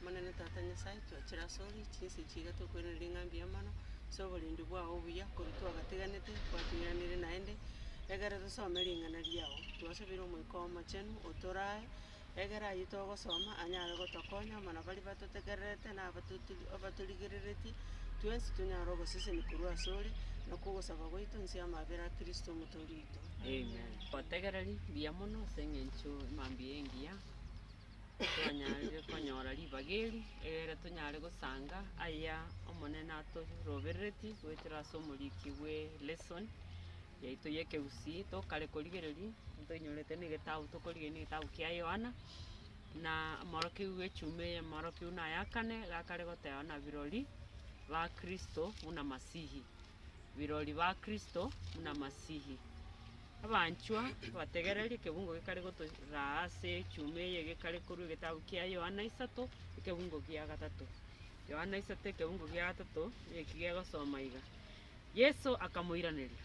Omonene Tata Nyasae, twachire ase ore, chinsa echi iga twakwenerire ng'a mbuya mono, ase oborendi bwao obuya, korwa twagateganete gwatuiraneire naende, egere tosome ring'ana riao. Twasabire Omoika oo Omochenu otorae, egere ayio togosoma anyare gotokonya amo na baria batotegererete na abatotu abatorigereretie, twensi tonyare ogosesenia korwa ase ore, nakwo ogosaba gwaito inse y'amabera a Kristo Omotoori oito. Amen. Otegereri mbuya mono ase eng'encho mambia engiya, twanyare konyora ribaga eri, egere tonyare gosanga aya Omonene atorobereretie goetera ase omoriki bwe lesson yaito y'ekegusii tokare korigereria, ntoinyorete na egetabu tokorigereria na egetabu kia Yohana, na omorokia bw'echumi eye omorokia buna ayakane, gakare goteba ng'a birori ba Kristo buna Masihi. birori ba Kristo buna Masihi. Abanchwa, abategereri, ekebungo gekare gotoraa ase echuma eye gekare korwa egetabu kia Yohana isato, ekebungo gia gatato. Yohana isato, ekebungo gia gatato, eki gegosoma iga, Yeso akamoiraneria,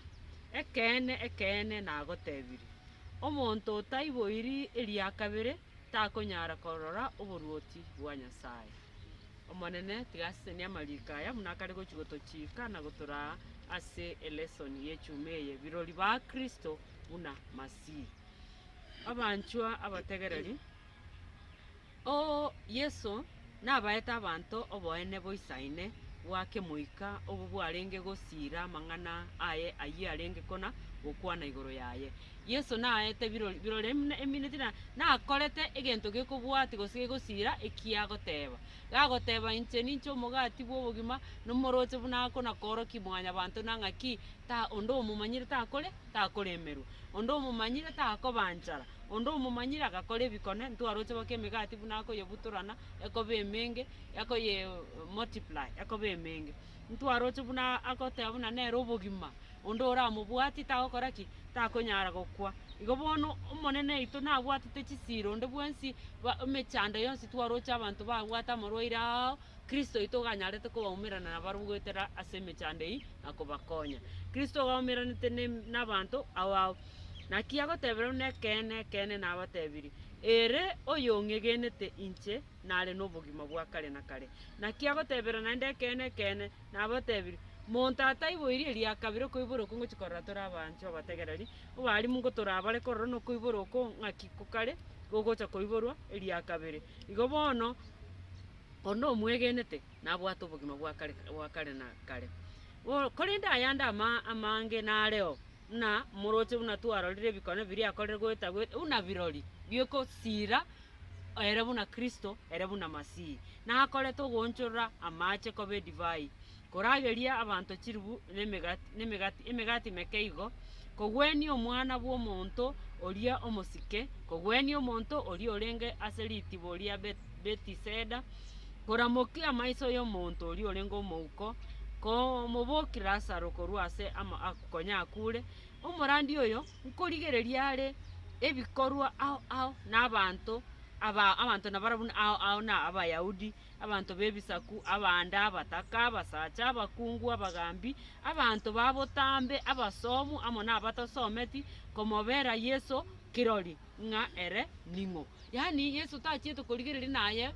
Ekeene, ekeene, nagotebirie, Omonto otaiboiri eria kabere takonyara korora oboruoti bwa Nyasae. Omonene, tiga asesenie amariiko aya buna akare gochia gotochiika na gotoraa ase elesoni y'echuma eye, birori ba Kristo buna Masihi. Abanchwa abategereri, oo Yeso nabaete abanto oboene boisaine bwa kemoika obwo bwarenge gosiira amang'ana aye ayio arenge kona gokwana igoro yaye. Yeso naete birori birore buna emineti na nakorete egento gekobwati gose gegosira ekiagoteba. Gagoteba inche ninche omogati bw'obogima, nomoroche buna akona koorokia Mwanyabanto na ng'aki ta onde omomanyire takore takoremerwa. Onde omomanyire takoba nchara, onde omomanyire agakora ebikone ntwaroche bake emegati buna akoyebutorana ekoba emenge akoye multiply ekoba emenge. Ntwaroche buna agoteba buna nere obogima. onde oramobwatie tagokora ki? Takonyara gokwa. Igo bono Omonene oito nabwatete chisiiro onde bwensi, ba- emechando yonsi twaroche abanto babwate amarwaire ao, Kristo oito oganyarete kobaumerana nabarabwo goetera ase emechando eyio na kobakonya. Kristo ogaumeranete ne nabanto abao. Naki agotebire buna ekeene, ekeene nabatebirie, ere oyong'egenete inche nare nobogima bwa kare na kare. Naki agotebire naende ekeene, ekeene, Nabatebirie, monto ataiboiri erio ya kabere okoibora okwo ngochia korora tore abanchwa abategereri, obaalimu ngo torabare korora nokoibora okwo ng'aki kokare gogocha koiborwa erio ya kabere. Igo bono, onde omwegenete nabwate obogima bwa kare bwa kare na kare. Bo korende ayande ama- amange nareo. buna morooche buna twarorire ebikone biria akorire goetagweta buna birori bi'ogosiira ere buna Kristo ere buna Masihi, na akorete ogoonchorora amaache koba edivai, korageria abanto chiribu na emegati na emegati emegati emeke igo, kogwenia Omwana bw'omonto oria omosike, kogwenia omonto oria orenge ase ritibo ria Bet- Betiseda, koramokia amaiso y'omonto oria orenge omouko, komobookia Lasaro korwa ase ama- a- konya akuure, omorandi oyo nkorigereria are ebikorwa ao ao na abanto aba abanto nabara buna ao ao na Abayahudi, abanto b'ebisaku, abaande, abataka, abasacha, abakungu, abagambi, abanto ba botambe, abasomu, amo na abatasometi, komobera Yeso kirori ng'a ere ning'o. Yaani Yeso tachiete korigereria naye.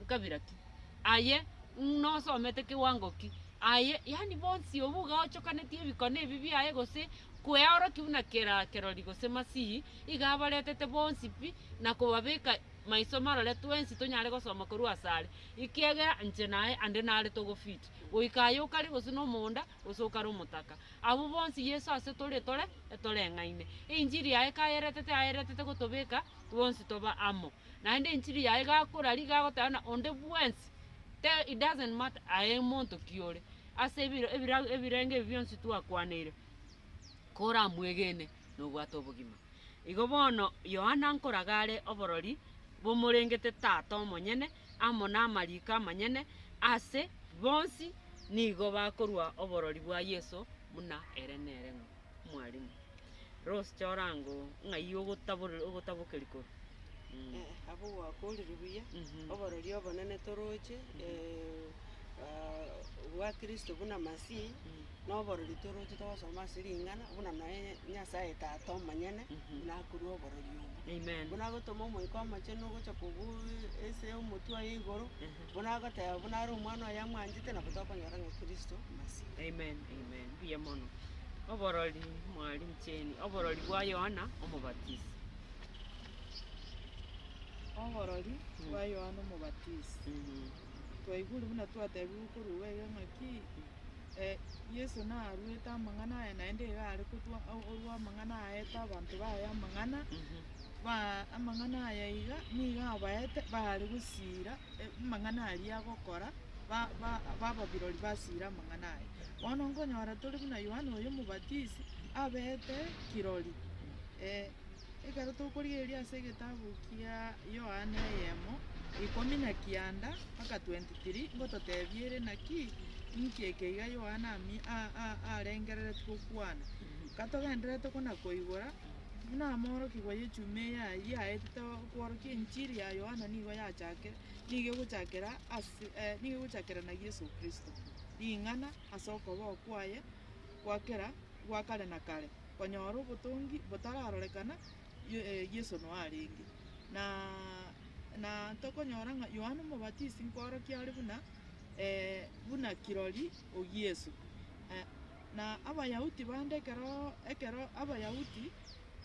ekabira ki? Aye ng'na osomete kiwango ki? Aye yaani bonsi obwo iga ochokanetie ebikone ebi biaye gose kweoroki buna kera kerori gose masihi, iga abaretete bonsi pi na kobabeka maiso marore twensi tonyare gosoma korwa asare, ekiagera inche naye ande nare togofit goika aye okare gose na omonda gose okare omotaka. Abwo bonsi Yeso ase tore etore etoreng'aine. Enchiri yaye kayeretete ayeretete gotobeka bonsi tobe amo. naende enchiri yaye gakorarigia agoteba buna onde bwensi tee it doesn't matter aye monto ki ore, ase ebiro ebira ebirenge ebi bionsi twakwaniire, koramwegene na obwate obogima. Igo bono Yohana nkoraga are oborori bomorengete Tata omonyene amo na amariko amanyene ase bonsi nigo bakorua oborori bwa Yeso buna ere nere ng'o. Mwalimu, Rose chora ango ng'ai ogotaborera ogotabokeria korwa mm. Eh, abwo gwakorire buya Mhm. oborori obonene toroche eh, ah, bwa kristo buna masihi noborori toroche togosoma ase ring'ana buna noe nyasaye tata omonyene Mhm. buna akorwa oborori obwo Amen. buna agotoma omoika omochenu ogocha kogu ase omotwe oye igoro Mhm. Buna agoteba buna are Omwana oye amwanchete, nabo tokonyora ng'a Kristo Masihi. Amen, amen, mbuya mono. Oborori, mwarincheni oborori bwa Yohana Omobatisi. Oborori bwa Yohana Omobatisi. Mhm. Twaigure buna twatebiwe korwa iga ng'aki eh, Yeso naruete amang'ana aye, naende iga are kotwa o- orwa amang'ana aete abanto baye amang'ana, ba amang'ana aye iga, nigo abaete bare gosiira eh, amang'ana aria agokora, ba ba bababirori basiire amang'ana aye. Bono nkonyora tore buna Yohana oyo Omobatisi, abete kirori, eh. Ekero tokorigereria ase egetabu kia Yohana eyemo, ikomi na kianda mpaka 23, ngototebia ere naki? Inki eke iga Yohana ami- a- a- arengereretie gokwana? Katogendererete kona-koigora, buna amoorokigwa y'echuma eya yaetete okworokia enchiri ya Yohana nigo yachakire, nigo egochakera ase nigo egochakerana Yeso Kristo, ring'ana ase okoboko kwaye gwa kera gwa kare na kare. konyora obotongi botararorekana, Yeso noyo arenge. Na na tokonyora ng'a Yohana Omobatisi nkworokia are buna buna kirori o Yeso. Na Abayahudi bande ekeroo ekero Abayahudi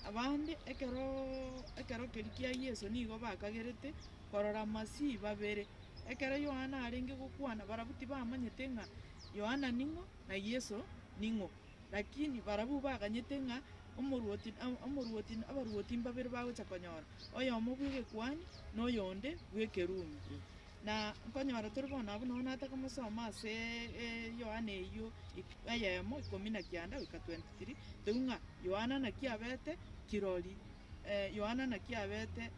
abande ekeroo ekero keria kia Yeso nigo bakagerete korora Masihi babere. Ekero Yohana arenge gokwana, barabwo tibamanyete ng'a Yohana ning'o, na Yeso ning'o. Lakini barabwo baganyete ng'a omorwoti na omorwoti na abarwoti mbabere bagocha konyora, oyomo bw'egekuani, na oyonde bw'ekerumi. Na nkonyora tore bono abwo nonya natakomosoma ase Yohana eyio ik- eyemo ikomi na kianda goika 23, toigwe ng'a Yohana naki abete kirori, Yohana naki abete,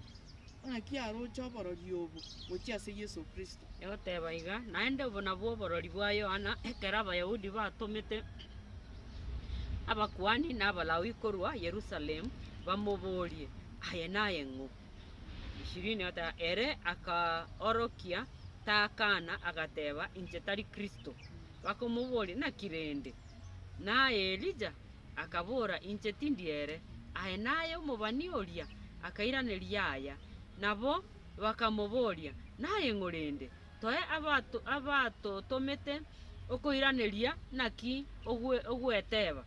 na naki aroche oborori obo gochia ase Yeso Kristo? Egoteba iga, naende obo nabwo oborori bwa Yohana, ekero Abayahudi batomete abakuani na Abalawi korwa Yerusalemu bamoborie, Aye naye ng'o? Ishirini egoteba, Ere akaorokia takana, agateba, Inche tari Kristo. Bakomoboria, Naki rende? Naye Elija? akabora, Inche tindi ere. Aye naye omobani oria akairaneria aya. Nabo bakamoboria, Naye ng'o rende? Toe abatotomete okoiraneria naki ogweteba.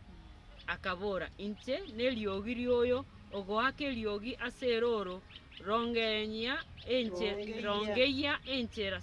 Akabora, Inche neriogi rioyo ogoaka eriogi ase erooro, Rongeyia enchera.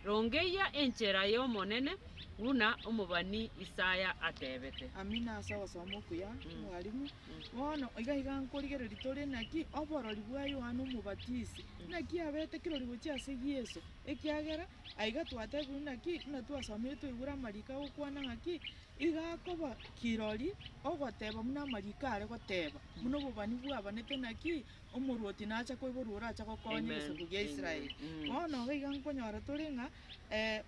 Rongeyia enchera y'Omonene, buna omobani Isaya atebete. Amina ase ogosoma okuya, mwalimu. Bono iga iga nkorigereria tore naki oborori bwa Yohana Omobatisi. Naki abe tekirori gochia ase Yeso, ekiagera aiga twatebirwe naki buna twasomire twaigure amariko agokwana ng'aki iga akoba kirori ogoteba buna amariko are goteba, buna obobani bwabanete naki Omorwoti nacha koiborwa orache gokonya egesaku gia Israeli. Bono iga iga nkonyora tore ng'a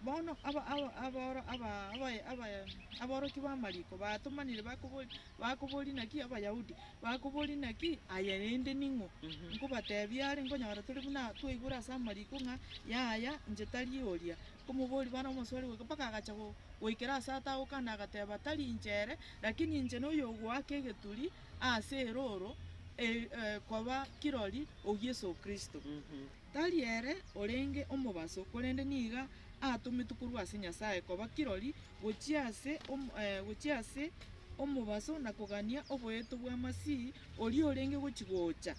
bono aba- aba- aboro- aba- abaye- abaye- aborokia b'amariko batomanire bakobori bakobori naki Abayahudi, bakobori naki aya rende ning'o? Nkobatebia are nkonyora tore buna twaigure ase amariko ng'a yaya inche tari oria. Nkomoboria bono omosori goika mpaka agacha go- goikera ase atagoka nagateba, Tari inche ere, rakini inche noyo ogoaka egeturi, ase erooro koba kirori o Yeso Kristo. Tari ere orenge omobaso, korende nigo atometwe korwa ase Nyasae koba kirori gochia ase omobaso na kogania oboeto bwa Masihi, oria orenge gochia gocha.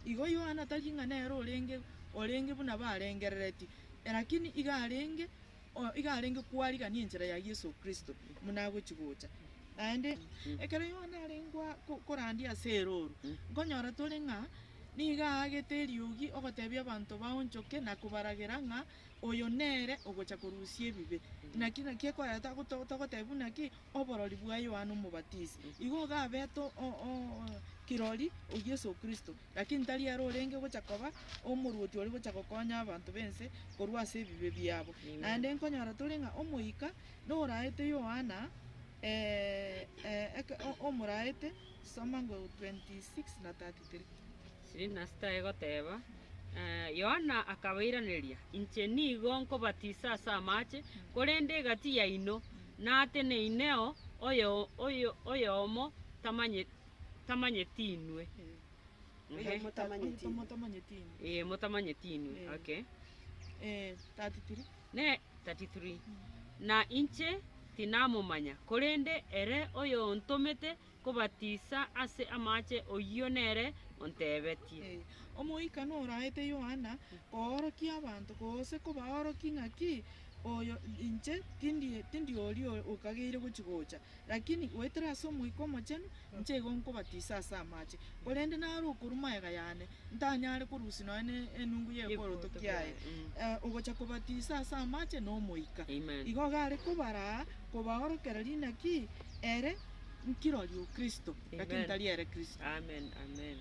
Igo Yohana tari ng'a nere orenge buna barengereretie, rakini igo arenge. Oyo iga arenge kwarigania enchera ya Yeso Kristo buna agochi gocha. Naende ekero Yohana arenge korandia ase erooro, nkonyora tore ng'a nigo aagete eriogi ogotebia abanto baonchoke na kobaragera ng'a oyo nere ogocha korusia ebibe. Naki naki ekoreta togotebia buna ki? Oborori bwa Yohana Omobatisi. Igo iga abete kirori o Yeso Kristo. Lakini tari ere orenge gocha koba omorwoti ore gocha gokonya abanto b'ense korwa ase ebibe biabo. Naende nkonyora tore ng'a omoika noraete Yohana, omoraete, soma 26 na 33. Yohana akabairaneria, Inche nigo nkobatisa ase amache, korende egati yaino nateneine oo, oyomo tamanyeti. tamanyeti inwe. Ehe. Oyo motamanyeti inwe. Motamanyeti inwe. Ee, motamanyeti inwe. Ee. Okay. Ee, 33. Ne, 33. Na inche tinamomanya, korende ere oyontomete kobatisa ase amache oyio nere ontebetie. Ee, Omoika noraete Yohana koorokia abanto, gose kobaorokia ng'aki, Oyo, inche tindi, tindi oria okageire gochi gocha, Lakini goetera ase Omoika Omochenu, inche igo nkobatisa ase amache, korende naro okorwa magega yane, ntanyare korusia nonya ne enungu y'ekworoto kiaye. Ee, ogocha kobatisa ase amache na Omoika. Amen. Igo gare kobaraa kobaorokera rinaki ere nkirori o Kristo, lakini Amen. tari ere Kristo. Amen, amen.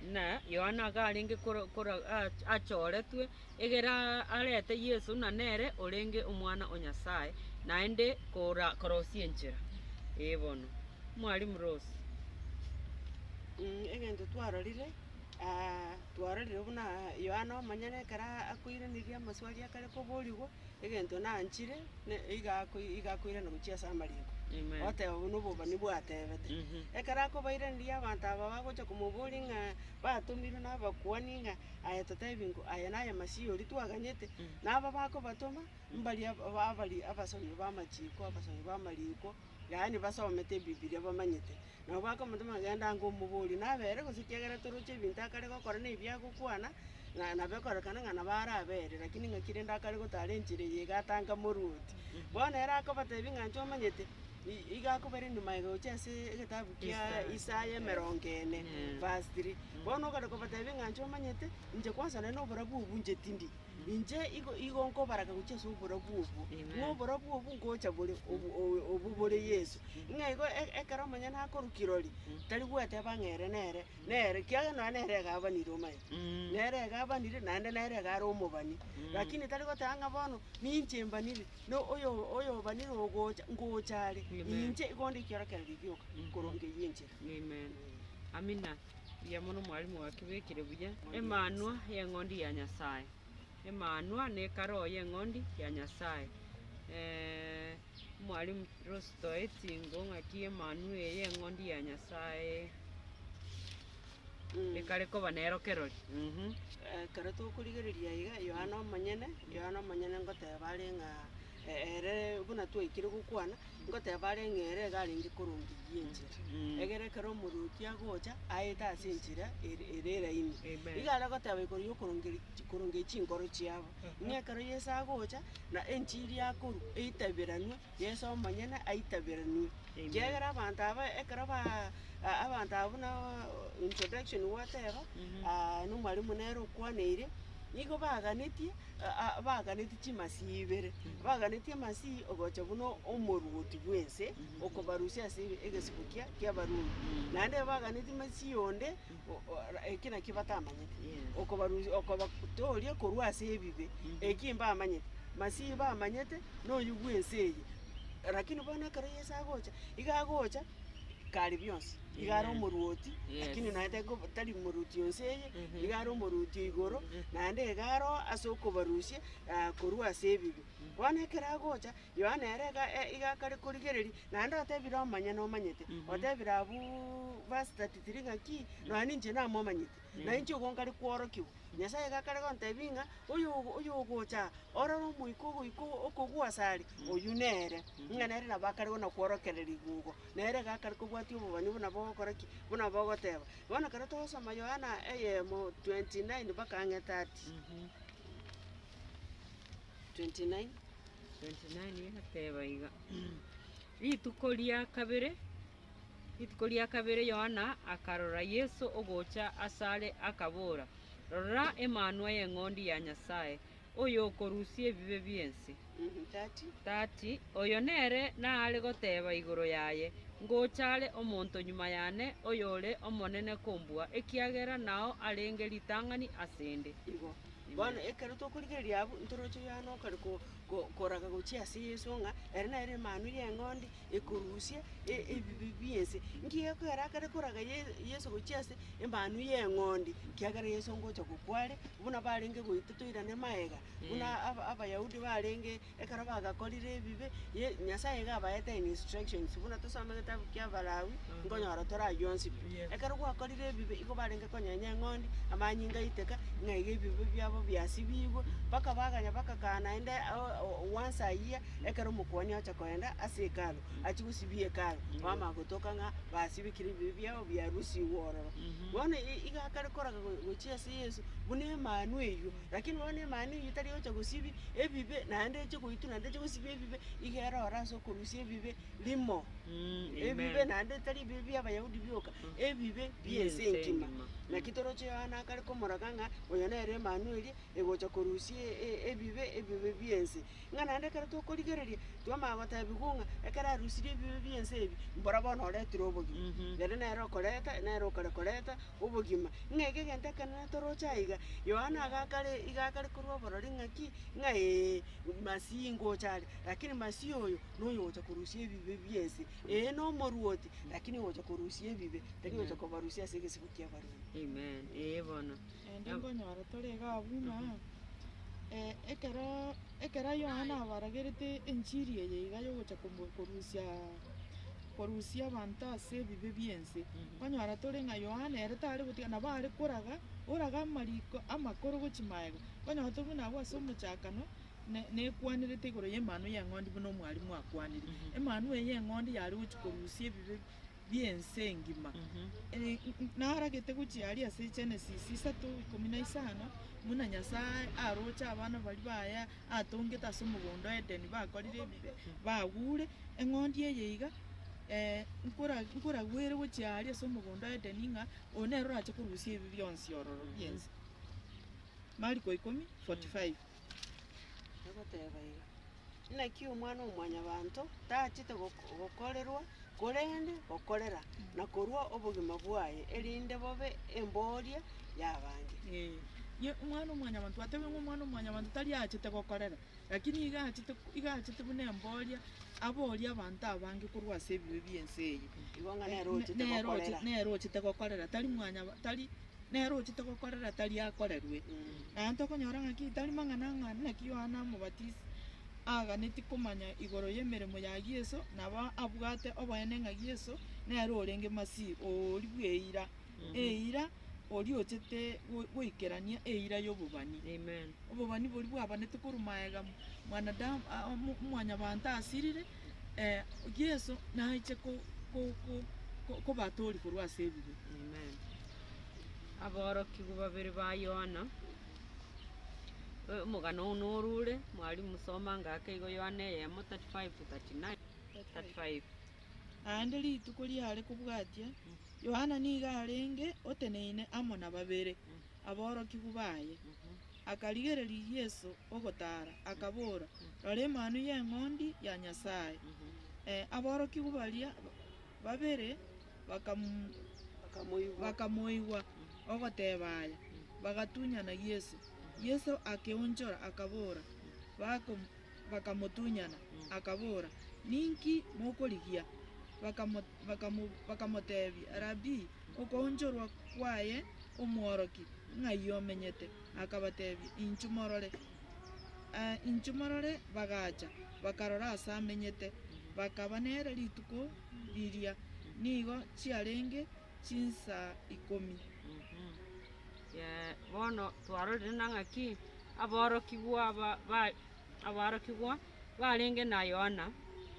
Buna Yohana akarenge kora, kora, a- achoretwe. Egera arete Yeso na nere orenge Omwana o Nyasae, naende korosia enchera. Ee bono, Mwalimu Rose. Egento twarorire aa, twarorire buna Yohana omonyene ekero akoiraneria amaswali akare koborigwa, egento nanchire, iga iga akoirana gochia ase amariko. Amen. Oteba buna obobani bwatebete. Ekero akobairaneria abanto aba bagocha komoboria ng'a batomirwe nabakuani ng'a Aye totebie ng'o aya naye Masiya oria twaganyete, na aba bakobatoma, mbaria aba- ba- abari abasomi b'amachiko, abasomi b'amariko, yaani basomete ebibiria bamanyete. Nabo bakomotoma, genda ango omoborie nabe ere gose ekiagera toroche ebinto akare gokora na ebi agokwana, ng'a nabo ekorekana ng'a nabo are abe ere, rakini ng'aki rende akare gotara enchera eye iga atanga morwoti. Bono ere akobatebia ng'a inche omanyete. Igo akobera enyuma egocha ase egetabu kia Isaya emerongo ene, verse three. Bono ogare kobatebia ng'a inche omanyete, inche kwansa nonye na oborabu obwo inche tindi. Inche igo igo nkobaraka gochia ase oborabu obwo, ng'a oborabu obwo ngocha bore obo- o- obwo bore Yeso. Ng'a igo e- ekero omonye nakorwa kirori, tari gweteba ng'a ere nere, nere kiagera nonye nere egabanire omanyete. Nere egabanire naende nere egare omobani, lakini tari goteba ng'a bono ninche mbaniri, na oyo- oyobanire ogocha, ngocha are, Amen. inche igo onde ekiorokererio gioka korwa ngeiyo enchera. Amen. Amina. Mbuya mono mwalimu wakebekire buya. Emanwa y'eng'ondi ya Nyasaye. Emanwa nekaro y'eng'ondi ya Nyasaye. Eh, mwalimu Rose toetingo ng'aki emanwa eye y'eng'ondi ya Nyasaye. ekare koba nero kerori. Ekero tokorigereria iga, Yohana omonyene, Yohana omonyene ngoteeba are ng'a e- ere buna twaikire gokwana, ngoteeba are ng'a ere iga arenge korongeria enchera. Egere ekero omorwoti agocha, aete ase enchera ere ere eraini. Amen. Iga are goteeba igoro ya okorongeri chi- korongeria chinkoro chiabo. Ng'a ekero Yeso agocha, na enchiri akorwa, eitaberanwe, Yeso omonyene aitaberanwe, ekiagera abanto aba ekero ba abanto aba buna introduction gwoteba, nomwalimu nere okwaneire, nigo baganetie baganetie chimasii ibere, baganetie amasii ogocha buna omoruoti bwense, okobarusia ase egesibuskia ki'Abarumi. Naende baganetie amasii onde, o- o- ra- eki nakio batamanyete, okobarusia okobatooria korwa ase ebibe, eki mbamanyete, masiyi bamanyete na oyio bw'ense eye. Rakini bono ekero Yeso agocha, iga agocha kare bionsi, iga are Amen. omorwoti, Yes. rakini naye tari koba- tari omorwoti onse eye, Mhm. iga are omorwoti o igoro, naende iga aroa ase okobarusia korwa ase ebibe. Bono ekero agocha, Yohana ere igakare korigereria, naende otebire omonyene omanyete, otebire abwo verse 33 ng'a ki? Nonya ninche namomanyete, na inche igo nkare kworokiwa. Nyasae igakare gontebia ng'a oyo oyogocha aa, ororo omoika ogoika okogwa asare, oyio nere. Ng'a nere nabo akare gona kworokererigwa igo, nere igakare kobwatia obobani buna bogokora ki? Buna bogoteba. Bono ekero togosoma Yohana eyemo 29 mpaka ang'e 30. 29 egateba iga, Rituko ria kabere, rituko ria kabere Yohana akarora Yeso ogocha asare, akabora, Rora Emanwa y'Eng'ondi ya Nyasae, oyokorusia ebibe bi'ense. 30 Oyo nere naare goteba igoro yaye, Ngocha are omonto nyuma yane, oyore omonene kombua, ekiagera nao arenge ritang'ani asende. Bono ekero tokorigereria abwo, ntoroche Yohana okare ko- ko- koraga gochia ase Yeso ng'a ere nere Emanwa y'Eng'ondi ekorusia e- ebibe bi'ense. Nkiya ekiagera akare koraga Ye- Yeso gochia ase Emanwa y'Eng'ondi? Ekiagera Yeso ngocha gokwa are, buna barenge goita toirane magega, buna aba- Abayahudi barenge. Ekero bagakorire ebibe, ye Nyasaye iga abaete instructions, buna tosome getabu kia Abalawi, nkonyora torayionsi pi. Yes. Ekero gwakorire ebibe, igo barenge konyenya eng'ondi, amanyinga aite ka, ng'a iga ebibe biabo biasibigwe, mpaka baganya bagakana naende o- o- once a year, ekero omokuani ocha kogenda ase Hekalu, achie gosibia Hekalu, bamanya gotoka ng'a basibekire ebibe biabo biarusigwe ororo. Bono i- iga akare koraka go- gochia ase Yeso, buna Emanu eyio, Lakini bono Emaneo eyio tari gocha gosibi ebibe, naende eche goituna, naende eche gosibi ebibe, iga ere ore ase okorusia ebibe rimo, ebibe naende tari ebibe bia Abayahudi bioka, ebibe bia ense engima. Naki toroche Yohana akare komoroka ng'a oyo nere Emaneo eria, egocha korusia e- e- ebibe, ebibe bia ense. ng'a naende ekero tokorigereria twamanya gotebigwa ng'a ekero arusirie ebibe bi'ense ebi, mboro bono oretire obogima, ere nere okoreta, nere okare koreta obogima. Ng'a eke egento ekenene toroche aiga, Yohana agaaka re iga akare korwa oborori ng'a ki, ng'a ee, Masihi ngocha are, rakini Masihi oyo noyo ogocha korusia ebibe bi'ense. Ee nomoruoti, rakini ogocha korusia ebibe, tari ogocha kobarusia ase egesibo ki'abarwani. Amen, ee bono. Naende nkonyora tore iga abwo ng'a. ekero ekero Yohana abaragerete enchiri eye iga yogocha komo- korusia korusia abanto ase ebibe bi'ense, kwanyora tore ng'a Yohana ere tare gotiga nabo are koraga, oraga amariko amakoro gochia magega, kwanyora tore buna abwo ase omochakano, ne- nekwanerete igoro y'Emanwa y'Eng'ondi buna omwarimu akwanire. Emanwa eye y'Eng'ondi yare gochia korusia ebibe bi'ense engima. Naragete gochia aria ase Genesis isato, ikomi na isano, buna Nyasae aroche abana baria baye atongete ase omogondo o Edeni bakorire ebibe, bagure. Eng'ondi eye iga nkoragwere gochia aria ase omogondo o Edeni ng'a oyo nere orache korusia ebibe bionsi ororo bi'ense. Mariko ikomi, forty five. Agoteba iga, Naki Omwana-o-mwanyabanto tachete goko- gokorerwa, korende gokorera, na korua obogima bwaye, erinde bobe embooria y'abange. Ee, ye Omwana-o-mwanyabanto, gwatebire ng'a Omwana-o-mwanyabanto tari achete gokorera, lakini iga achete iga achete buna embooria, aboorie abanto abange korwa ase ebibe bi'ense eye. Igo ng'a nere ochete nere oche- gokorera. nere ochete gokorera, tari mwanyaba tari Nere ochete gokorera tari akorerwe. Naende tokonyora ng'aki tari mang'ana ng'a naki Yohana Omobatisi aaganetie komanya igoro y'emeremo ya Yeso, nabo abwate oboene ng'a Yeso nere orenge Masihi oori bw'eira, eira oria ochete goikerania eira y'obobani. Obobani boria bwabanetwe korwa maega mwanadamu, mwanyabanto asirire. Yeso nache ko- ko- ko- ko- kobatori korwa ase ebibe. Amen. Aborokigwa babere ba Yohana. Omogano ogo norure, mwalimu soma anga ake igo Yohana eyemo 35:39, 35. Naende rituko riare kobwatia, Yohana nigo arenge oteneine amo na babere. aborokigwa baye. Akarigereria Yeso ogotaara, akabora, Rora Emanu y'Eng'ondi ya Nyasae! Aborokigwa baria babere bakamoigwa ogoteba aya, bagatunyana Yeso. Yeso akeonchora, akabora, Bakamotunyana, akabora, Ninki mokorigia? bakamoteebia, Rabii, okoonchorwa kwaye omworoki, ng'ai omenyete? Akabateebia, Inchu morore. Inchu morore. Bagacha, bakarora aase amenyete, bakaba nere rituko riria. Nigo chiarenge chinsaa ikomi. Bono twarorire na ng'aki aborokigwa aborokigwa barenge na Yohana,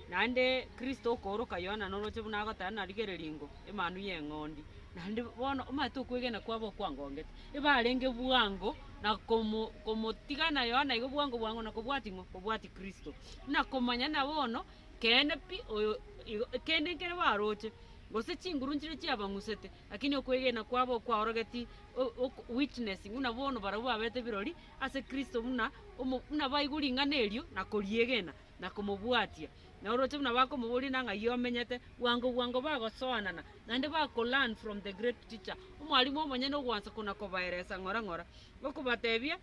naende Kristo okooroka Yohana noroche buna agoteba na rigere ringo Emanu y'Eng'ondi. Naende bono omanyete okwegena kwabo okwangongete, ebarenge bwango na komo- komotiga na Yohana igo bwango bwango na kobwati ng'o? Kobwati Kristo. Buna komanya na bono keene pi oyo igo kende nkere baroche, gose chinguru nchire chiabang'usete, lakini okwegena kwabo okwaorogeti o- ok- witness buna bono barabwo baberete ebirori. ase Kristo buna omo, buna baigwa ring'ana erio na koriegena, na komobwatia, na oroche buna bakomoboria na ng'ai omenyete, bwango bwango bagosoanana, naende bakolearn from the great teacher, omwalimu omonyene ogoansa kona-kobaeresa ng'ora ng'ora, okobatebia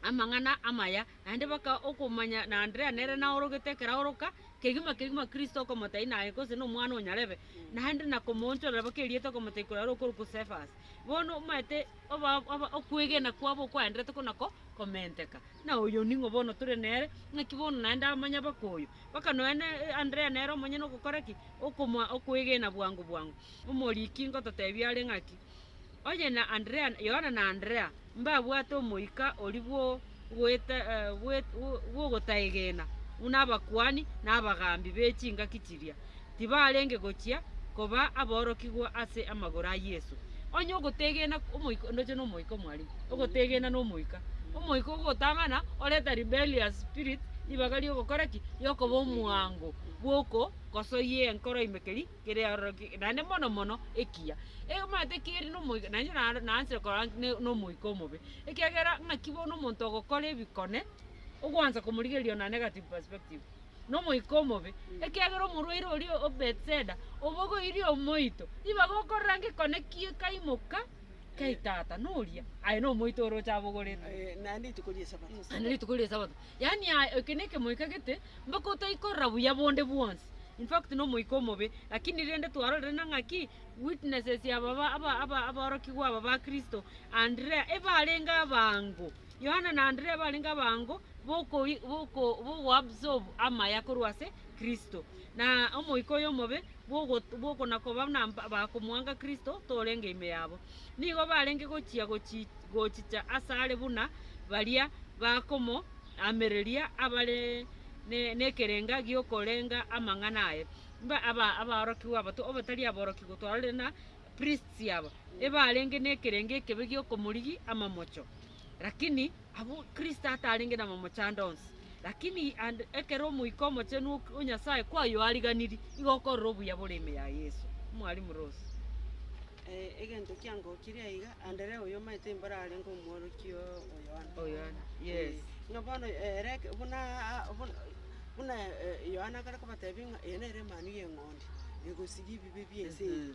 amang'ana amaya, naende baka okomanya na Andrea nere naorogete ekeraoroka kegima kegima Kristo okomotebia naye gose nomwana o nyarebe, naende na komoonchorera baka erieta okomotebia korwa are okorokwa Cephas. Bono omaete. Oba, oba, okwegena kwabo okwaenderete ko nako komenteka. Na oyo ning'o bono tore nere, naki bono naende amanya baka oyo. Baka nonya ne Andrea nere omonyene ogokora ki? Okomoa okwegena bwango bwango. Omoriki ngototebia are ng'aki, Onye na Andrea, Yohana na Andrea, mbabwate omoika oria bwo. bw'ogotaegena buna abakuani na abagaambi be chingaki chiria, tibarenge gochia koba aborokigwa ase amagoro a Yeso. Onye ogoteegena omoika, ndoche na omoika omwarenge, ogoteegena na omoika. Omoika ogotang'ana oreta rebellious spirit, ribaga ri'ogokora ki? Ri'okoba omwango bw'okosoyia enkoro ime keri? kere aroro ki, naende mono mono ekiya. Egamaete keri na omoika, naende naro naanchire korora ne na omoika omobe, ekiagera ng'aki bono omonto ogokora ebikone, ogwancha komorigereria ona negative perspective, na omoika omobe, ekiagera omorwaire oria o Bethesda, obogoirie omoito, ibaga okorora ngekone kie kaimoka, kai tata noria, aye na omoito oroche abogorete. Naende rituko ri'esabato. Yaani aye eke nekemoika gete mpaka otaikorora buya bonde bwonsi, in fact nomoika omobe, lakini rende twarorire na ng'aki witnesses ya baba aba aba aborokigwa aba ba Kristo, Andrea, ebarenge abango, Yohana na Andrea ebarenge abango bokoi boko bogoabsorb amaya korwa ase Kristo, na omoika oyo omobe bwogo bwokonakoba na bakomwanga Kristo torenge ime yabo. nigo barenge gochia gochicha asare buna baria bakomoamereria abare nekerenga giokorenga amang'ana aye. Abaorokigwa aba, obatari aborokigwa twarorire na priests aba, ebarenge nekerenga ekebe giokomorigi amamocho. Lakini abwo Kristo atarenge namomochando onsi, lakini and ekero Omoika Omochenu ok- o Nyasaye kwayoariganirie, igo okorora obuya bore ime ya Yeso. Mwalimu Rose. Eh, egento kiangokirie aiga, Anderea oyio omaete imboro arenge omworokia o- o Yohana. O Yohana, yes. Eh, Ng'a bono ere eke- buna a- a- buna- buna eh, Yohana akare kobatebia ng'a eye nere emanu y'eng'ondi, egosiria ebibe bi'ense eye.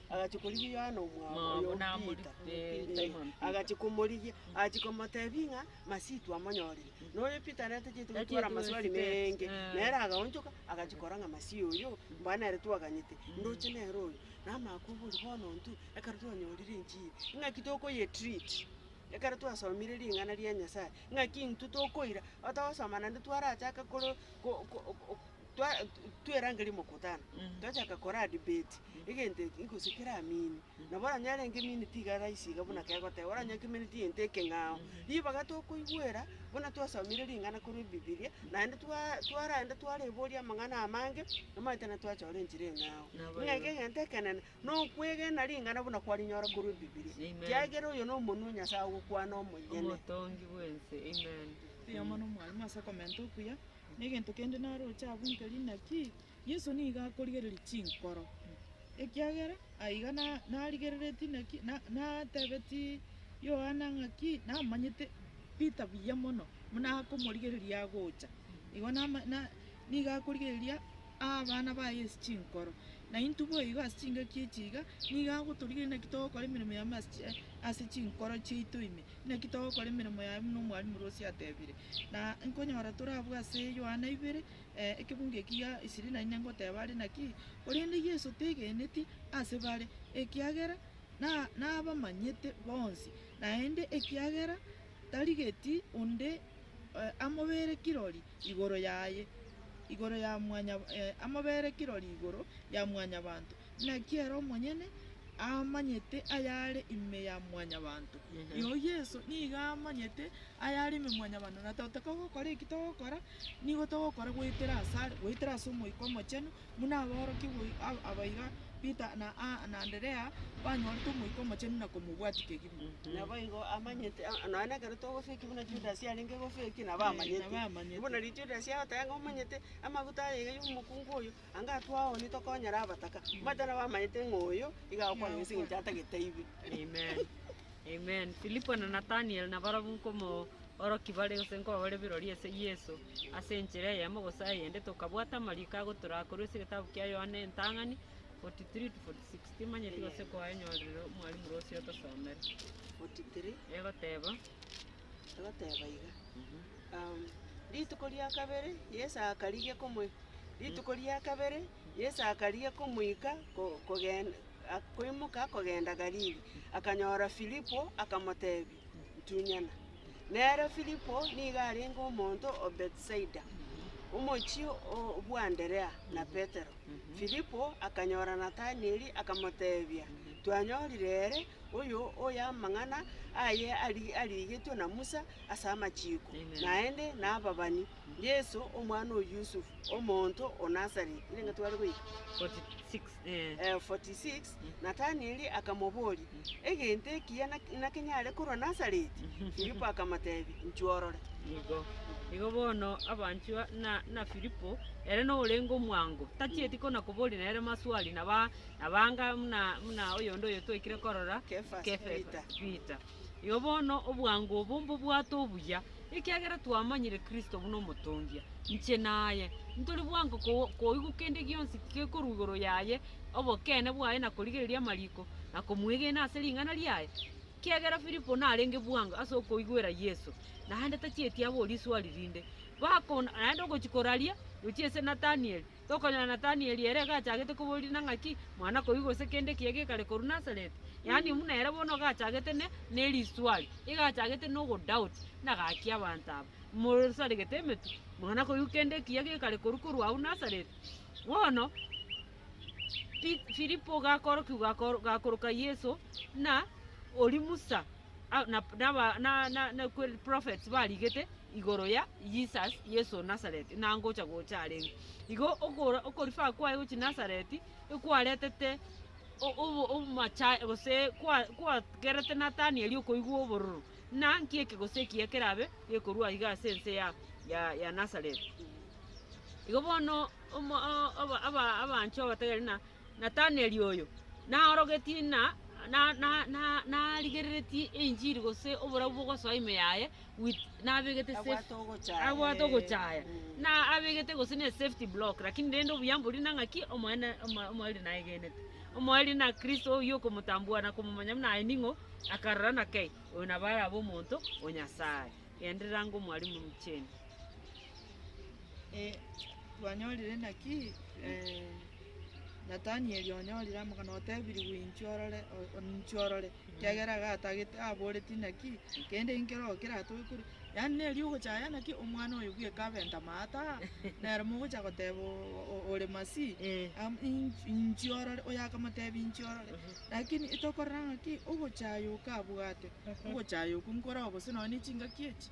Agachia korigia Yohana omwabo Omwabo oyo namorikire Peter. Simon Eh, Peter. Agachia komorigia, agachia komotebia ng'a Masitu amonyorire. Na oyo Peter nere tacheti Tacheti gotwara amaswali gosibeti, menge. eh. Nere agaonchoka, agachia korora ng'a Masiya oyo, mbwa nere twaganyete, ndoche nere oyo. Namakwabori bono intwe, ekero twanyorire enchiri, ing'aki tokoyetreat, ekero twasomire ring'ana ria Nyasaye, ng'aki intwe tokoira, otagosoma naende twarachaka koro ko- ko- ko- ko- twa twerangeria omokutano, twachaka koraa debate, egento eke gose keraminie, nabo onye arenge minute iga raisi iga buna kegoteba, oranyake eminute egento ekeng'ao, ribaga tokoigwera buna twasomire ring'ana korwa ebibilia, naende twaa twaraenda twareboria amang'ana amange, omanyete naende twachora enchera eng'ao. Nabo Ng'a iga. egento ekenene, na okwegena ring'ana buna kwarinyora korwa ebibilia, Amen. kiagera oyo na omonwa o Nyasaye ogokwana omoyene. Omotongi bw'ense, Amen. Ekenyoro na omwalimu ase okomenta okuya. Negento kende naroche agwo nkeri naki Yeso nigo akorigereria chinkoro, ekiagera aiga narigereretie naki natebetie Yohana ng'aki namanyete Peter buya mono buna akomorigereria agocha. Igo nigo akorigereria abana baye ase chinkoro. Naintwe boigo ase chingaki echi iga, nigo agotorigereria naki togokora emeremo yaye ase chinkoro chiaito ime, naki togokora emeremo yaye buna omwarimu Rosie atebire. Na nkonyora tore abwo ase Yohana ibere, ekebungo eki gia isiri na ine ngoteba are naki, korende Yeso tegeneti ase bare, ekiagera nabamanyete bonsi, naende ekiagera tarigeti onde amobere kirori igoro yaye, igoro ya mwanyabanto. Naki ere omonyene amanyete ayare ime ya mwanyabanto, iyoo Yeso nigo amanyete ayare ime ya mwanyabanto, na totaka gokora eki togokora, nigo togokora goetera asare, goetera ase Omoika Omochenu, buna aborokia goi ab- abaiga Peter na Aa na Anderea banyorete Omoika Omochenu na komobwatia kegima. Naboigo amanyete aa nonya na ekero togofekia buna Judasi arenge gofekia, nabo amanyete. Nabo amanyete. Buna Judasi agoteba ng'a omanyete, amaguta aye iga ya omokungu oyo. Anga atwao nigo tokonyara abataka, omanyete nabo amanyete ng'a oyo iga agokwana ase eng'encho atagete aigwe. Amen. Amen. Filipo na Nathaniel nabarabwo nkomoorokia bare gose nkobabare birori ase Yeso ase enchera eyemo gose eyende, tokabwata amariko agotoraa korwa ase egetabu kia Yohana entang'ani, 43-46. Timanyeti gose koaenyorire omwarimu rosie otosomere. 43. Egoteba, Agoteba iga, um, rituko ria kabere Yeso akarigia komo rituko ria kabere Yeso akarigia komoika ko- kogen a- koimoka kogenda Galili. Akanyora Filipo, akamotebia, Ntunyana. Nere Filipo nigo arenge omonto o Bethsaida, omochie o- bw'Anderea na Petero. Filipo akanyora Nathanieli, akamotebia, Twanyorire ere Oyo oyo amang'ana aye arigetwe na Musa ase amachiko, naende nababani, Yeso, omwana o Yusufu, omonto o Nazareti. 46 Natanieli akamoboria, Egento ekiya nakenyare korwa Nazareti? Filipo akamotebia, Inchwa orore. Nigo. Igo bono abanchwa na Filipo, ere noyorenge omwango, tachieti kona koboria nere maswali, na ba. Nabanga buna buna oyonde oyo twaikire korora, Kefas Kefas Peter. Igo bono obwango obo mbobwate obuya, ekiagera twamanyire Kristo buna omotongia, inche naye. Ntori bwango ko- koigwa kende gionsi gekorwa igoro yaye, obokeene bwaye na korigereria amariko, na komwegena ase ring'ana riaye. Kiagera Filipo narenge bwango ase okoigwera Yeso, naende tachieti abore riswari rinde. Bakona naende ogochia koraria, gochia ase Nathanieli. Tokonyora Natanieli ere iga achagete koborirana ng'aki, Mwana koigwa gose kende ekiya gekare korwa Nazareti? Yaani buna ere bono iga achagete ne- neriswali, iga achagete nogodoubt, buna gaki abanto aba mosaregete emetwe, Mwana koigwa kende ekiya gekare korwa korwa agwo Nazareti? Bono Pi- Filipo gakorokigwa gakoro- gakoroka Yeso, buna oria Musa a- na- naba- na- na- na- kweri prophets barigete, igoro ya Jesus, Yeso o Nazareti, ng'a ngocha gocha areng'o. Igo okora okorifaa kwaye gochia Nazareti, ekwaretete o- obo- obomacha gose kwa- kwagerete Nathanieli okoigwa obororo, ng'a nki eke gose eki ekerabe gekorwa iga ase ense ya ya ya Nazareti. Igo bono omo o- oba- aba- abanchwa obatebirie ng'a. Nataneli oyo naorogetie na narigereretie enchiri gose oborabu bogosoa ime yaye with nabegete safety abwate ogochaya na abegete gose ne safety block lakini rende obuyamboria na ng'aki omoene omoeri naegenete. Omoeri na kristo oyio okomotambua na komomanya buna aye ning'o akarora na kei oyo nabo arabe omonto o Nyasaye. Genderera ngomwarimu Jane. Eh, twanyorire naki? Eh, Nathanieli onyorire amang'ana, otebirigwe, inchuo orore, o- o- inchuo orore, ekiagera iga atagete, aboreti naki, kende inkere oo keratoke korwa. Yaani neri ogochaya naki omwana oyo bweka abe ntamata, nere mogocha goteba o- o- ore Masii, Eh, am- in- inchuo orore, oyakamotebi inchuo orore. Lakini tokorora ng'aki, ogochaya okabwate, ogochaya okwo nkoroo gose nonye ne chingaki echi,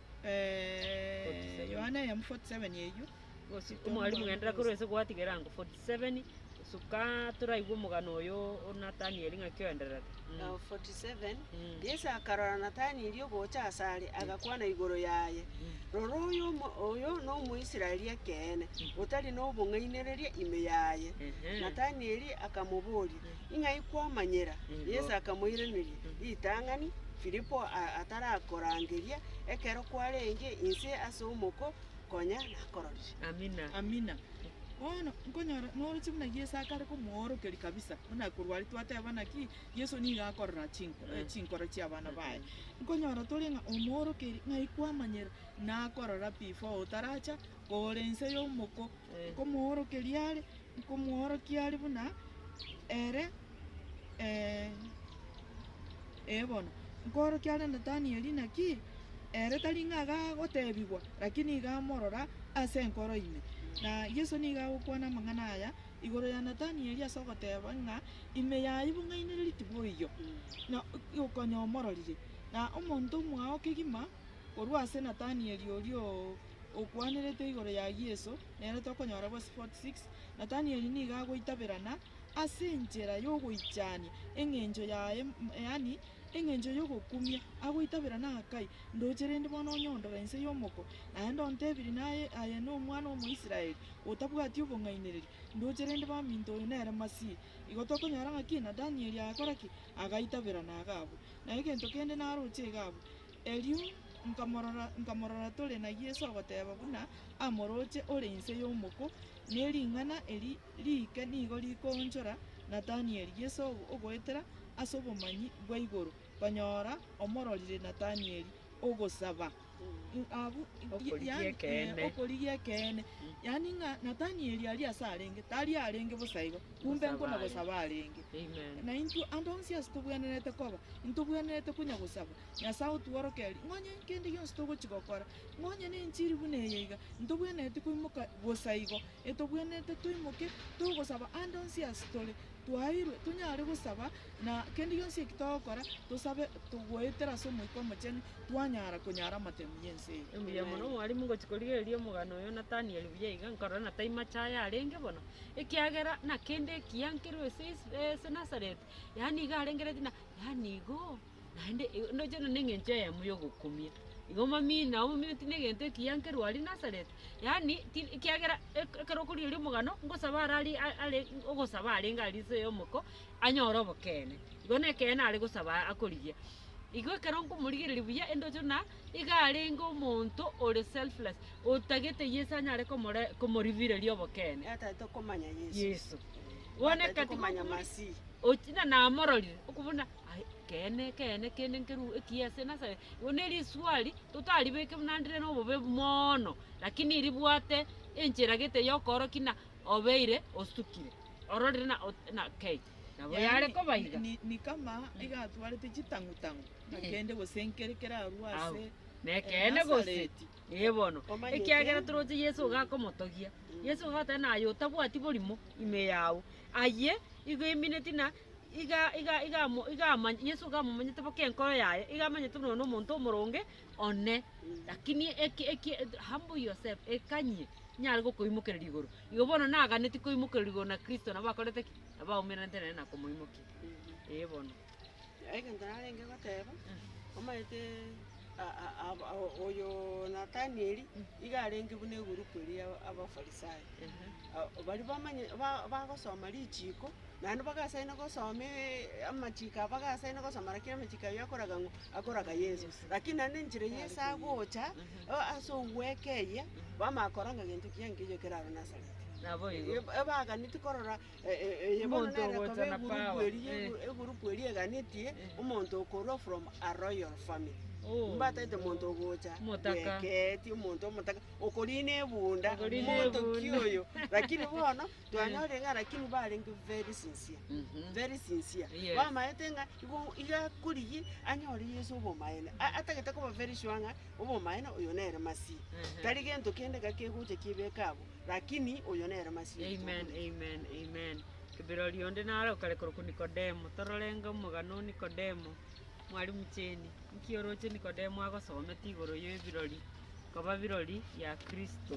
Yohana eyemo 47 eyio gosika Omwalimu, genderera korwa ase gwatigera erango 47 gosuka toraigwe omogano oyo o Nathanieli ng'aki oendererete. Mm. Ao 47 Mm. Yesu akarora Nathanieli ogocha ase are, agakwana igoro yaye, Rora oyo omo- oyo n'Omoisraeli ekeene, otari nobong'ainereria ime yaye. Ehe. Nathanieli akamoboria, Ing'ai kwamanyera? Yeso akamoiraneria, Ritang'ani Filipo atarakorangeria, ekero kwarenge inse ase omoko, konya nakororire. Bono nkonyora noroche buna Yeso akare komoorokeria kabisa, buna korwa aria twatebana ki? Yeso nigo akorora chinkoro chi'abana baye. Nkonyora tore ng'a omoorokeiri, ing'ai kwamanyera? Nakorora before otaracha kore inse y'omoko, nkomoorokeria are, nkomoorokia are buna ere, ee bono, nkoorokia are Nathanieli, naki ere tari ng'a iga agotebigwa, lakini nigo amorora ase enkoro ime. Na Yeso nigo agokwana amang'ana aya igoro ya Nathanieli ase ogoteba ng'a, Ime yayio bong'ainereretie boigo, na okonya omororire. Na omonto omwao kegima korwa ase Nathanieli oria o. okwanerete igoro ya Yeso, nere tokonyora bwase 46 Nathanieli nigo agoitaberana ase enchera y'ogoichania eng'encho yaye, yaani eng'encho y'ogokumia, agoitaberana akai, Ndoche rende bono onyondore inse y'omoko, naende ontebiri naye aye nomwana omoisraeli otabwati obong'ainereria, ndoche rende baminto oyo nere Masihi. Igo tokonyora ng'aki Nathanieli agakora ki? Agaitaberana iga abwo. Na egento kende naroche iga abwo. Erio nkamorora, nkamorora tore na Yeso ogoteba buna amoroche ore inse y'omoko, ne ring'ana eri riike nigo rikoonchora Natanieli Yeso ogoetera ase obomanyi bwa igoro, konyora omororire Natanieli ogosaba, abw Okorigia yaani, ekeene. eh, okorigia ekeene, yaani ng'a Natanieli aria ase arenge, tari arenge bosa igo, kumbe Gosaba nkono aye. gosaba arenge. Amen. Na intwe ande onsi ase tobwenerete koba, intobwenerete konya gosaba, Nyasae otworokerie, ng'a onye kende gionsi togochia gokora, ng'a onye ne enchiri buna eye iga, ntobwenereti koimoka bosa igo, etobwenerete toimoke togosaba ande onsi ase tore, twaeirwe tonyare gosaba, na kende gionsi eki togokora, tosabe togoetera ase Omoika Omochenu, twanyara konyara amatemu y'ense eye. Mbuya mono mwalimu ngochi korigereria omogano oyo Nathaniel buya iga nkarora na taimache aye arenge bono, ekiagera na kende ekiya nkerwa ase ase Nazareth, yaani iga arengeretie na yaani igo. Naende igo ndoche na neng'encho eyemo yogokumia. Igo omomini na omomino tindi egento ekiya nkerwa aria Nazareti, yaani tindi ekiagera eke- ekero okorigereria omogano, ngosabe ara aria a- are ogosaba arenge aria inse y'omoko, anyore obokeene. Igo na ekeene are gosaba aa akorigia. Igo ekero nkomorigereria buya, endoche buna iga arenge omonto ore selfless, otagete Yeso anyare komore komoribireria obokeene. Yataete okomanya Yeso. Yeso. Bono Yataete ekatiga okomanya okomori- Masihi. ochi na namororire, okobuna. Aye, ekeene, ekeene, ekeene nkerue ekiya ase nasa. Igo ne riswali totaribeke buna ndire na obobe moono, lakini ribwate enchera gete y'okoorokia na obeire osukire. Ororire na ot- na kei, nabo Yaani, yare koba ni- iga. ni- ni kama iga atwarete chitang'u-tang'u, Eh. akende gose nkere kere arue Au, ase na ekeene gose. Nasareti. Ee bono, Omanyete? ekiagera toroche Yeso iga akomotogia. Yeso iga agoteba naye otabwati borimo ime yao. Ayio igo emineti na Yeso iga amomanyete boka enkoro yaye, iga amanyete buna one omonto omoronge one. Lakini humble yourself, ekanyie, ninyare gokoimokereria igoro. Igo bono naganetie koimokererwa igoro na Kristo, nabo akorete ki? Nabo aumerenete nere na komoimokia. Ee bono. Egento narenge goteba, omanyete. oyo Nathanieli iga arenge buna egurupu eria ya Abafarisai. A- Baria bamanye, ba- bagosoma richiiko, naende bagasaini gosoma e- amachiiko aba bagasaini gosoma rakini amachiiko ayio akoraga ng'o? Akoraga Yeso. Rakini naende enchera Yeso agocha, o- ase ogweka eye, bamanya korora ng'a gento kiaye nkeyo kere aro Nazareti. Naboigo. Eba- Ebaganetie korora. omonto ogocha na power, eh. Egurupu eria eganetie Eh. omonto okorwa from a royal family. Oh. Mbataete omonto ogocha Omotaka. bweketi, omonto omotaka, okorina ebunda, Okorina omontoki ebunda. oyo. Lakini bono, twanyorire ng'a lakini barenge very sincere, Mhm. very sincere. Yes. Bamaete ng'a igo iga akorigie anyore Yeso obomaene. A- Atagete koba very sure ng'a obomaene oyo nere Masihi. Ehe. Tari gento kende iga kegocha kiebeka abwo. Lakini oyo nere masieri Amen, tokorigia. amen, amen. Kibirori onde nare okare korokwa Nikodemo. Tororenge omogano o Nikodemo. Mwalimu Cheni, nki oroche Nikodemo agosomete igoro y'ebirori koba birori bia Kristo?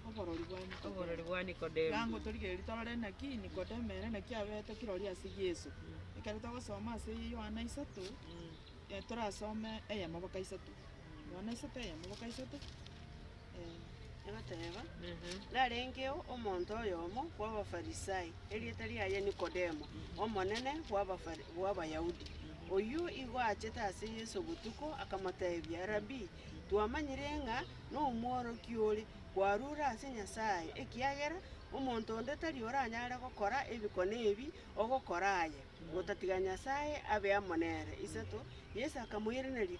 Oborori bwa Nikodemo. Oborori bwa Nikodemo. Yango torigererie torore naki Nikodemo ere naki abeete kirori ase Yeso. Ekero togosoma ase Yohana isato, Mm. eh, torasome eyemo boka isato. Noone isato eyemo boka isato, eh. Egoteeba, Narengeo omonto oyomo bw'Abafarisai, erieta riaye Nikodemo, omonene bw'Abafari bw'Abayahudi. Oyio igo achete ase Yeso botuko, akamoteebia, Rabii, twamanyire ng'a nomworokia ore, kwarure ase Nyasae, ekiagera omonto onde tari oranyare gokora ebikone ebi ogokora aye, gotatiga Nyasae abe amo nere. Isato, Yeso akamoiraneria,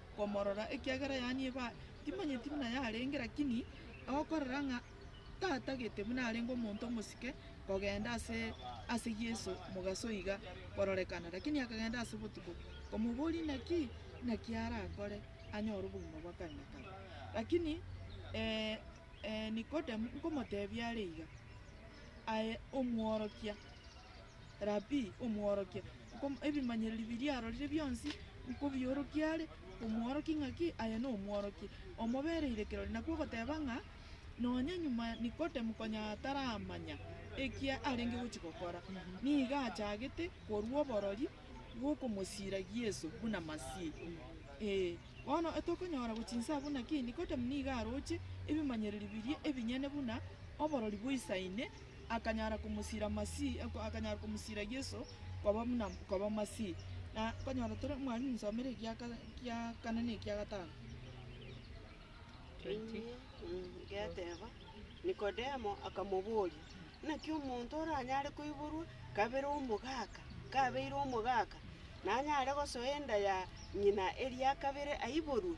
komorora, ekiagera yaani eba timanyeti buna yarenge, lakini agokorora ng'a Tata gete buna arenge omonto omosike kogenda ase ase Yeso mogaso iga kororekana. Lakini akagenda ase botuko, komoboria naki naki arakore anyore obogima bwa kare na kare. Lakini Nikodemu nkomotebia are iga, Aye Omworokia. Rabii, Omworokia, nko- ebimanyereri biria arorire bionsi nkobiorokie are, omworokie ng'aki? Aye nomworokia omobere irekerori. Nakwo ogoteba ng'a nonya nyuma Nikodemu konya ataramanya ekia arenge gochi gokora, nigo achagete korua oborori bw'okomosiragia Yeso buna Masihi. Ee, bono tokonyora gochia inse abwo naki Nikodemu nigo aroche ebimanyereri biria ebinyene buna oborori boisaine akanyara komosiira Masihi, akanyara komosiira Yeso koba buna koba Masihi. Na nkonyora tore, mwarimu nsomere ekia kara ekia kane na ekia gatano. Ngateba, Nikodemo akamoboria, Naki omonto oranyare koiborwa kabere omogaka, kabeire omogaka, nanyare gosoa enda ya ng'ina eria kabere aiborwe?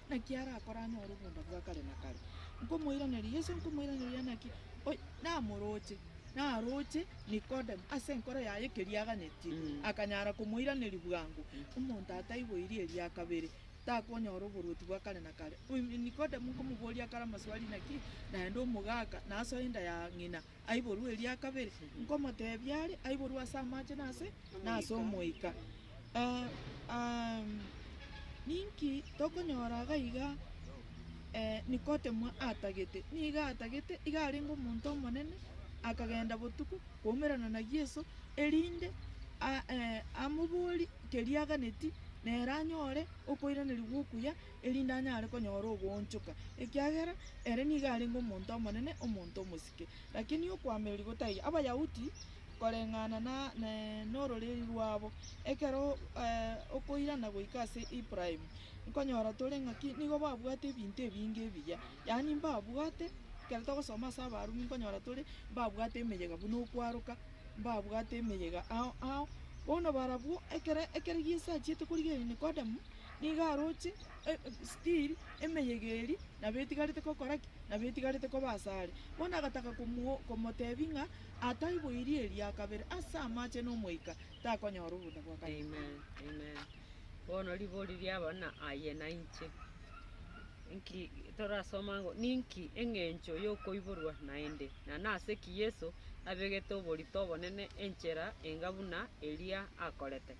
Naki arakore anyore obonda bwa kare na kare. Nkomoiraneria, Yeso nkomoiraneria naki oy namoroche. Naroche Nikodemo ase enkoro yaye keria aganetie, akanyara komoiraneria bwango, Omonto ataiboiri eria kabere, takonyora oboruoti bwa kare na kare. Nikodemo nkomoboria akare amaswali naki naende omogaka, na asoe enda ya ng'ina. aiborwe eria kabere, nkomoteebia are aiborwe ase amache na ase Omoika. Ninki tokonyora iga iga? Nikodemo atagete, nigo atagete, iga arenge omonto omonene, akagenda botuko koumerana na Yeso, erinde amoborie keria aganetie, nere anyore okoiraneria gwa okuya. erinde anyare konyora ogoonchoka, ekiagera ere nigo arenge omonto omonene, omonto omosike. Lakini okoameria gotaiyo Abayahudi koreng'ana n'ororeri rwabo, ekero okoirana goika ase Ibrahimu, nkonyora tore ng'aki nigo babwate ebinto ebinge ebiya, yaani mbabwate, ekero togosoma ase Abarumi nkonyora tore mbabwate emeyega buna okwaroka, mbabwate emeyega ao ao. Bono barabwo ekero ekero Yeso achiete korigereria Nikodemu, nigo aroche stiri emeyega eria nabo etigarete gokora ki? Nabo etigarete koba asare. Bono agataka komotebia ng'a ataiboirie eria kabere ase amache na omoika takonyora obonda bwa kabere. Amen amen bono ribori riaba na aye na inche. Inki torasoma ng'a ninki eng'encho yokoiborwa naende, na nase ki Yeso abegete oborito obonene enchera enga buna eria akorete?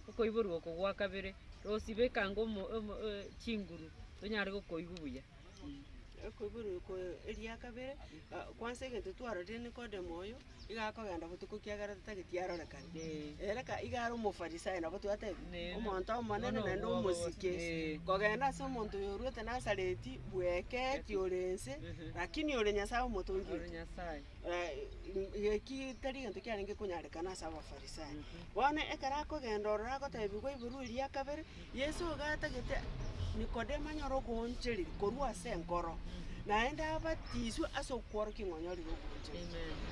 okoiborwa oko gwa kabere, rosibe ekango omo- omo- o- chinguru tonyare gokoigwa buya. Okoiborwa oko eria kabere, ah, kwansa egento twarorire Nikodemo oyo, iga akogenda botuko kiagera totageti arorekane. Ee. Ere ka iga are omofarisayo nabo twatebia, Neene. omonto omonene Bono naende obwoba bono. omosike. Ee. Kogenda ase omonto oyo orwete Nasareti, bweka eki ore ense, Mhm. lakini ore Nyasaye Omotongi Ore oito. Nyasaye. eki tari gento kiarenge konyarekana ase Abafarisai. Bono ekero akogenda ororo agoteebigwa ebarua eria ya kabere, Yeso iga atagete Nikodemo anyare okoonchereri korwa ase enkoro, naende abatiswe ase okworokia ng'a onyorire okoonchereri.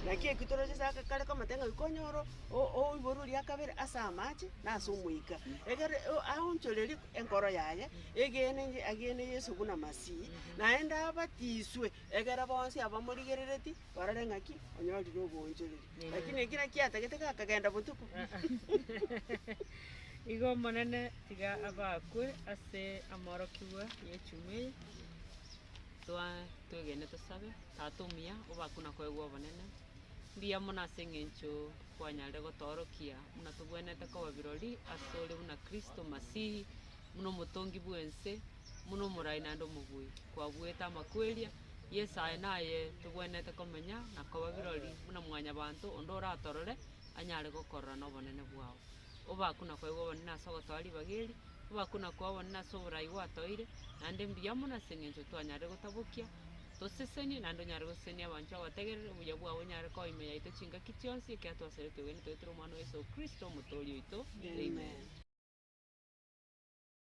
Naki ekio toroche ase aka kare komotebia ng'a iko onyore o- o- oiborwa eria ya kabere ase amache na ase Omoika. Egere o- aonchorerie enkoro yaye, egene agene Yeso buna Masihi, naende abatiswe Egera bonsi abamorigerereti barore ng'aki onyorire oboonchoreri. Lakini eki naki atagete gakagenda botuko. Igo Omonene, tiga abakwe ase amaorokigwa ye chuma eye. Twa twegene tosabe, Tata omuya, obakwe na koegwa obonene. Mbuya mono ase engencho kwanyarire gotoorokia buna togwenerete koba birori ase ore buna Kristo Masihi, buna omotongi bw'ense, Buna omorai naende omobui kwabuete amakweria, Yeso aye naye tobwenerete komenya na koba birori buna mwanyabanto onde oratorore anyare gokorora nobonene bwao. Obakuna kwaigwa obonene ase ogotoa ribaga eri, obakuna kwao obonene ase oborai gwatoire, naende mbuya mono ase engencho twanyarire gotabokia, tosesenie naende onyare gosesenia abanchwa abategereri, obuya bwao onyare koa ime yaito chingaki chionsi, ekiagera twaserete twegenete goetera Omwana o Yeso Kristo Omotooria oito. Amen.